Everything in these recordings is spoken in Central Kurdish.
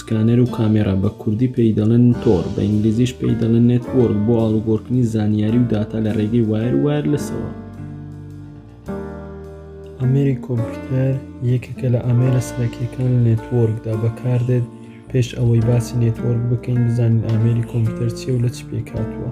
سکانەر و کامێرا، بە کوردی پێی دەڵێن تۆڕ، بە ئینگلیزیش پێی دەڵێن نێتوۆرک، بۆ ئاڵوگۆڕکردنی زانیاری و داتا لە ڕێگەی وایر و وایرلسەوە. ئامێری کۆمپیوتەر یەکێکە لە ئامێرە سەرەکیەکان لە نێتوۆرکدا بەکاردێت، پێش ئەوەی باسی نێتوۆرک بکەین بزانین ئامێری کۆمپیوتەر چیە و لە چ پێکهاتووە.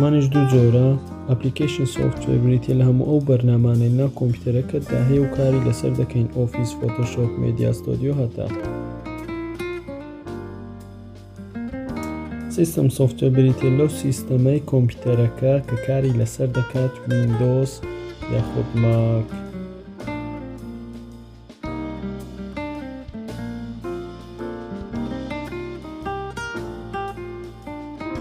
مانیش دوو جۆرە ئەپلیکیشن سۆفتوێر بریتە لە هەموو ئەو بەرنامانەی ناو کۆمپیوتەرەکەتدا هەیە و کاری لەسەر دەکەین ئۆفیس فۆتۆشۆپ مێدیا ستۆدیۆ هەتا سیستم سۆفتوێر بریتە لەو سیستەمەی کۆمپیوتەرەکە کە کاری لەسەر دەکات وینندۆس یاخود ماک